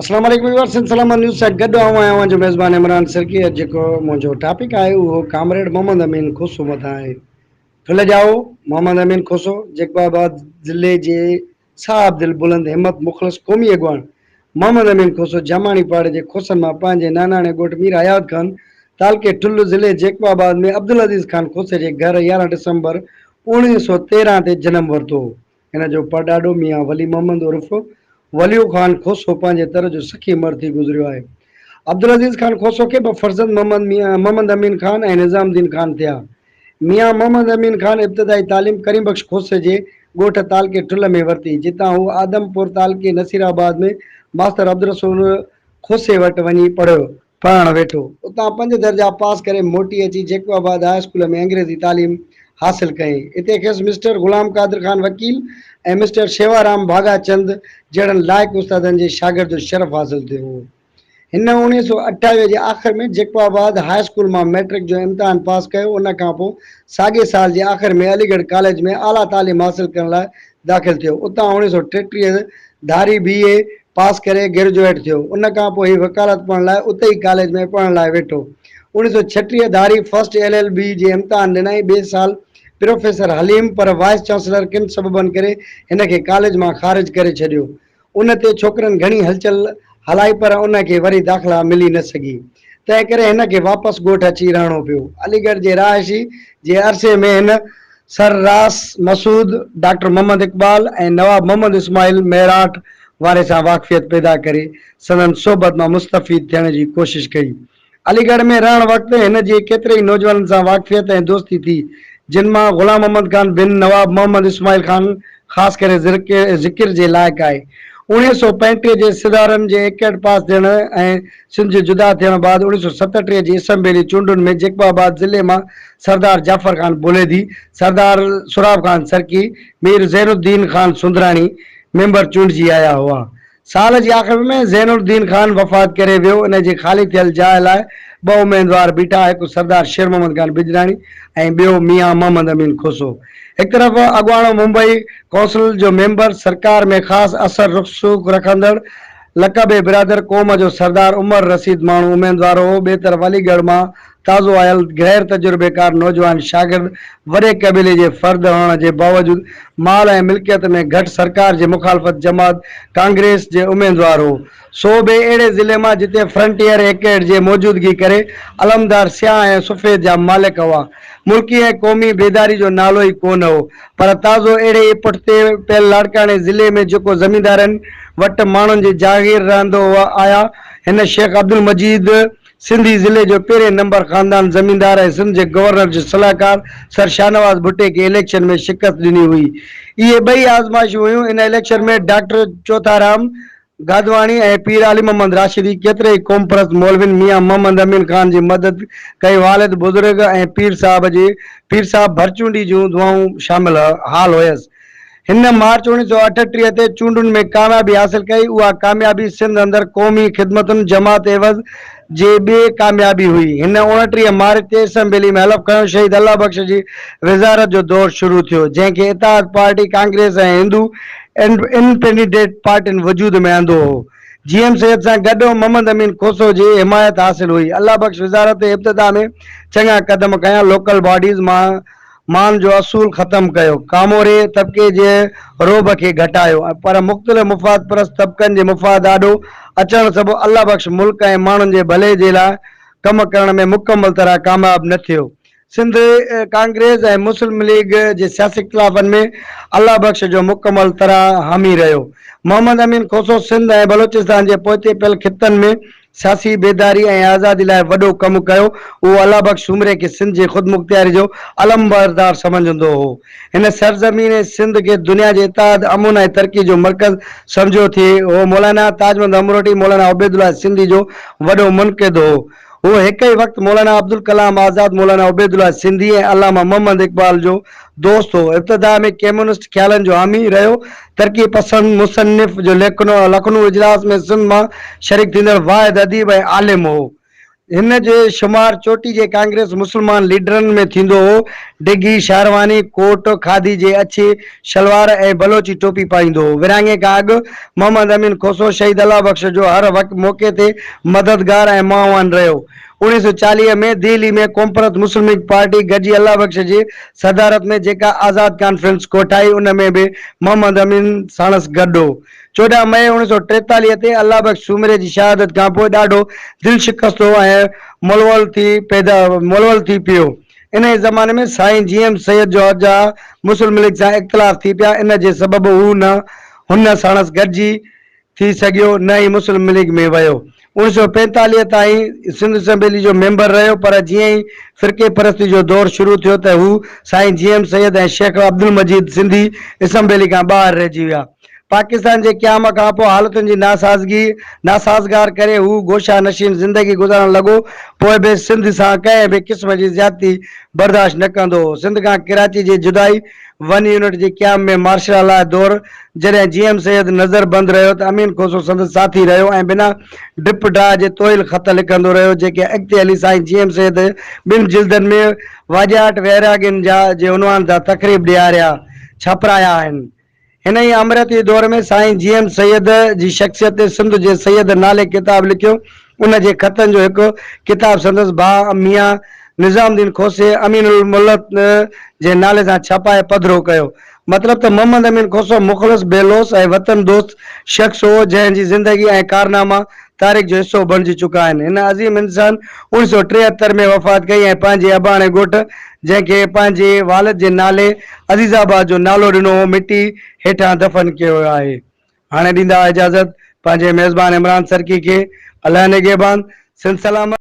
اسلام عليڪم viewers Sindh Salamat news سان گڏ آئون آهيان اوهان جو ميزبان عمران سرڪي اڄ جيڪو منهنجو ٽاپڪ آهي اهو ڪامريڊ محمد امين کوسو مٿان آهي ڦل ڄائو محمد امين کوسو جيڪب آباد ضلعي جي صاحب دل بلند همت مخلص قومي اڳواڻ محمد امين کوسو جاماڻي پاڙي جي کوسن مان پنهنجي ناناڻي ڳوٺ مير حيات خان تعلقي ٺل ضلعي جيڪب آباد ۾ عبدالعزيز خان کوسي جي گهر يارهن ڊسمبر اوڻيهه سؤ تيرهن تي جنم ورتو هو هن جو پڙڏاڏو ميان ولي محمد عرف وليو خان کوسو پنهنجي تر جو سخي مرد ٿي گذريو آهي. عبدالعزيز خان کوسو کي ٻه فرزند محمد ميان محمد امين خان ۽ نظام الدين خان ٿيا. ميان محمد امين خان ابتدائي تعليم ڪريم بخش کوسي جي ڳوٺ تعلقي ٺلهه ۾ ورتي، جتان هو آدمپور تعلقي نصيرآباد ۾ ماستر عبدالرسول کوسي وٽ وڃي پڙهيو. پڙهڻ ويٺو. اتان پنج درجا پاس ڪري موٽي اچي جيڪب آباد هاء اسڪول ۾ انگريزي تعليم حاصل ڪيائين. اتي کيس مسٽر غلام قادر خان وڪيل ۽ مسٽر شيوارام ڀاڳا چند جهڙن لائق استادن جي شاگرد الشرف حاصل ٿيو هو. هن اوڻيهه سؤ اٺاويهه جي آخر ۾ جيڪب آباد هاء اسڪول مان مئٽرڪ جو امتحان پاس ڪيو. ان کانپوء ساڳئي سال جي آخر ۾ علي ڳڙهه ڪاليج ۾ اعليٰ تعليم حاصل ڪرڻ لاء داخل ٿيو، اتان اوڻيهه سؤ ٽيٽيهه ڌاري بي. اي پاس ڪري گريجوئيٽ ٿيو، ان کان پوء هي وڪالت پڙهڻ لاء اتي ئي ڪاليج ۾ پڙهڻ لاء ويٺو. اوڻيهه سؤ ڇٽيهه ڌاري فرسٽ ايل. ايل. بي جي امتحان ڏنائين، ٻئي سال پروفيسر حليم پر وائيس چانسلر ڪن سببن ڪري هن کي ڪاليج مان خارج ڪري ڇڏيو، ان تي ڇوڪرن گهڻي هلچل هلائي پر ان کي وري داخلا ملي نه سگهي، تنهن ڪري هن کي واپس ڳوٺ اچي رهڻو پيو. علي ڳڙهه جي رهائشي جي عرصي ۾ هن sir Ross Masood, doctor Muhammad Iqbal ۽ Nawab Muhammad Ismail Meerut واري سان واقفيت پيدا ڪري سندن صحبت مان مستفيد ٿيڻ جي ڪوشش ڪئي. علي ڳڙهه ۾ رهڻ وقت هن جي ڪيتري ئي نوجوانن سان واقفيت ۽ دوستي ٿي، جن مان غلام محمد خان بن نواب محمد اسماعيل خان خاص ڪري ذڪر جي لائق آهي. اوڻيهه سؤ پنجٽيهه جي سڌارن جي ايڪٽ پاس ٿيڻ ۽ سنڌ جي جدا ٿيڻ بعد اوڻيهه سؤ ستٽيهه جي اسمبلي چونڊن ۾ جيڪب آباد ضلعي مان سردار جعفر خان بوليدي، سردار سهراب خان سرڪي، مير زين الدين خان سندراڻي ميمبر چونڊجي آيا هئا. سال جي آخر ۾ زين الدين خان وفات ڪري ويو، ان جي خالي ٿيل جاء لاء ٻه اميدوار بيٺا، هڪ سردار شير محمد خان بجراڻي ۽ ٻيو ميان محمد امين کوسو. هڪ طرف اڳواڻو ممبئي ڪونسل جو ميمبر، سرڪار ۾ خاص اثر رسوخ رکندڙ، لقبي برادر قوم جو سردار عمر رشيد ماڻهو اميدوار هو، ٻئي طرف علي ڳڙهه مان تازو آيل غير تجربيڪار نوجوان شاگرد وڏي قبيلي جي فرد هئڻ جي باوجود مال ۽ ملڪيت ۾ گهٽ سرڪار جي مخالفت جماعت ڪانگريس جي اميدوار هو سو به اهڙي ضلعي مان جتي فرنٽيئر ايڪيڊ جي موجودگي ڪري علمدار سياهه ۽ سفيد جا مالڪ هئا ملڪي ۽ قومي بيداري جو نالو ئي ڪونه هو پر تازو اهڙي ئي پٺتي پيل لاڙڪاڻي ضلعي ۾ جيڪو زميندارن وٽ ماڻهن جي جاگير رهندو هو آيا هن شيخ عبدالمجيد سنڌي ضلعي جو پهرين نمبر خاندان زميندار ۽ سنڌ جي گورنر جو صلاحڪار سر شاهنواز ڀٽي کي اليڪشن ۾ شڪست ڏني هئي. اهي ٻئي آزمائشون هيون. ان اليڪشن ۾ ڊاڪٽر چوٿارام گادواڻي ۽ پير علي محمد راشدي ڪيترائي قومپرست مولوين ميان محمد امين خان جي مدد ڪئي والد بزرگ ۽ پير صاحب جي پير صاحب ڀرچونڊي جون دعائون شامل حال هيس. هن مارچ اوڻيهه سؤ اٺٽيهه تي چونڊن ۾ ڪاميابي حاصل ڪئي، اها ڪاميابي سنڌ اندر قومي خدمتن جماعت عيوض جي ٻي ڪاميابي هئي. هن اوڻٽيهه مارچ تي اسمبلي ۾ حلف کنيو، شهيد الله بخش جي وزارت جو دور شروع ٿيو، جنهن کي اتحاد پارٽي، ڪانگريس ۽ هندو انڊپينڊنٽ پارٽين وجود ۾ آندو هو. جي ايم سيد سان گڏ محمد امين کوسو جي حمايت حاصل هئي. الله بخش وزارت ابتدا ۾ چڱا قدم کنيا، لوڪل باڊيز مان مان جو اصول ختم ڪيو، ڪاموري طبقي جي رعب کي گهٽايو ۽ پر مختلف مفاد پرست طبقن جي مفاد آڏو اچڻ سبب الله بخش ملڪ ۽ ماڻهن جي ڀلي جي لاء ڪم ڪرڻ ۾ مڪمل طرح ڪامياب نه ٿيو. سنڌ ڪانگريس ۽ مسلم ليگ جي سياسي اختلافن ۾ الله بخش جو مڪمل طرح حامي رهيو. محمد امين کوسو سنڌ ۽ بلوچستان جي پوئتي پيل خطن ۾ سياسي بيداري ۽ آزادي لاء وڏو ڪم ڪيو. هو الله بخش سومري کي سنڌ جي خودمختياري جو علمبردار سمجهندو هو. هن سرزمين سنڌ کي دنيا جي اتحاد، امن ۽ ترقي جو مرڪز سمجهيو ٿي. هو مولانا تاج محمد امروٽي، مولانا عبيد الله سنڌي جو وڏو منقد هو. هو هڪ ئي وقت مولانا عبدالڪلام آزاد، مولانا عبيد الله سنڌي ۽ علامه محمد اقبال جو دوست هو. ابتدا ۾ ڪميونسٽ خيالن جو حامي رهيو، ترقي پسند مصنف جو ليکنو لکنو اجلاس ۾ سنڌ مان شريڪ ٿيندڙ واحد اديب ۽ عالم هو. هن جو شمار چوٽي جي ڪانگريس مسلمان ليڊرن ۾ ٿيندو هو. ڊگهي شهرواني ڪوٽ، کاڌي جي اڇي شلوار ۽ بلوچي ٽوپي پائيندو هو. ورهاڱي کان اڳ محمد امين کوسو شهيد الله بخش جو هر موقعي تي مددگار ۽ معاون رهيو. اوڻيهه سؤ چاليهه ۾ دهلي ۾ قومپرست مسلمليگ پارٽي گڏجي الله بخش جي صدارت ۾ جيڪا آزاد ڪانفرنس ڪوٺائي ان ۾ به محمد امين ساڻس گڏ هو. چوڏهن مئي اوڻيهه سؤ ٽيتاليهه تي الله بخش سومري جي شهادت کانپوء ڏاڍو دل شڪست هو ۽ ملول ٿي پيدا ملول ٿي پيو. انهيء زماني ۾ سائين جي ايم سيد جو جا مسلمليگ سان اختلاف ٿي پيا ان جي سبب هو نه هن ساڻس گڏجي ٿي سگهيو نه ئي مسلم ليگ ۾ ويو. اوڻ سؤ پينتاليهه تائين سنڌ اسيمبلي جو ميمبر رهيو پر جيئن ئي فرقي پرستي جو دور شروع ٿيو ته هو Sain G M Syed ۽ Shaikh Abdul Majeed Sindhi assembly کان ٻاهر رهجي ويا. پاڪستان جي قيام کانپوء حالتن جي ناسازگي ناسازگار ڪري هو گوشه نشين زندگي گذارڻ لڳو پوء به سنڌ سان ڪنهن به قسم جي زيادتي برداشت نه ڪندو هو. سنڌ کان ڪراچي جي جدائي. ون يونٽ جي قيام ۾ مارشلا لاء دور جڏهن جي ايم سيد نظر بند رهيو ته امين کوسو سندس ساٿي رهيو ۽ بنا ڊپ ڊاء جي طويل خط لکندو رهيو جيڪي اڳتي هلي سائين جي ايم سيد ٻن جلدن ۾ واڄاٽ ويراڳين جا جي عنوان تان تقريب ڏياريا ڇاپرايا آهن هن ئي آمريتي دور ۾ سائين جي ايم سيد جي شخصيت تي سنڌ جي سيد نالي ڪتاب لکيو. ان جي خطن جو هڪ ڪتاب سندس ڀاء ميان نظام الدين کوسي امين الملت جي نالي سان ڇپائي پڌرو ڪيو. مطلب ته محمد امين کوسو مخلص، بي لوث ۽ وطن دوست شخص هو، جنهن جي زندگي ۽ ڪارناما تاريخ جو حصو بڻجي چڪا آهن. هن عظيم انسان اوڻ سؤ ٽيهتر ۾ وفات ڪئي ۽ پنهنجي اباڻي ڳوٺ جنهن کي پنهنجي والد جي نالي عزيز آباد جو نالو ڏنو هو مٽي هيٺان دفن ڪيو ويو آهي هاڻي ڏيندا اجازت پنهنجي ميزبان عمران سرڪي کي الله نگهبان سنڌ سلامت.